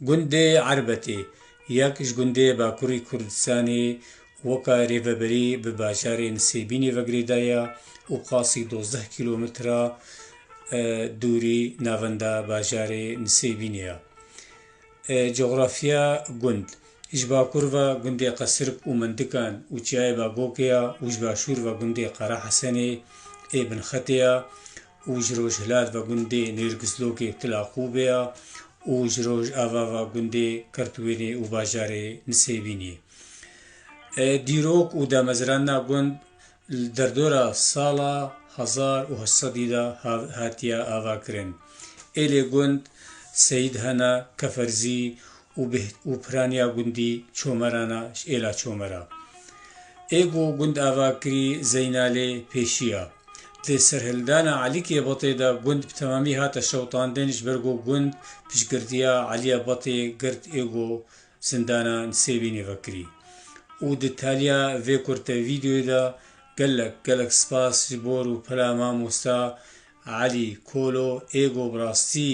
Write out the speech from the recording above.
Gundê Erbetê yek ji gundê Bakurî Kurdistanê weke rêveberî bi bajarê Nisêbînê ve girêda ye û qasî dozdeh kîlometre dûrî navenda bajarê Nisêbînê ye. Cografiya gund, Ji bakur ve gundê Qesirk û Mendikan û Çiyayê Bagokê ye û ji başûr ve gundê Qerahesenê ê Binxetê ye. û ji rojhilat ve gundê Nêrgizlogê Tilaqûbê ye û ji rojava ve gundê Kirtwênê û bajarê Nisêbînê. Dîrok û damezrana gund li derdora sala hezar û heşt sedî de hatiye avakirin. Êlê gund Seyîd Hena Keferzî û bi û piraniya gundî Çomerana ji êla Çomera. Ê ku gund ava kirî Zeynalê pêşiya. Di serhildana Elîkê Batê de gund bi temamî hate şewitandin ji ber ku gund piştgirtiya Elîya Batê girt ê ku zindana Nisêbînê vekirî. Û di taliya vê kurte vîdeoyê de gelek gelek spas ji bo rûpela mamosta Elî Kolo ê ku bi rastî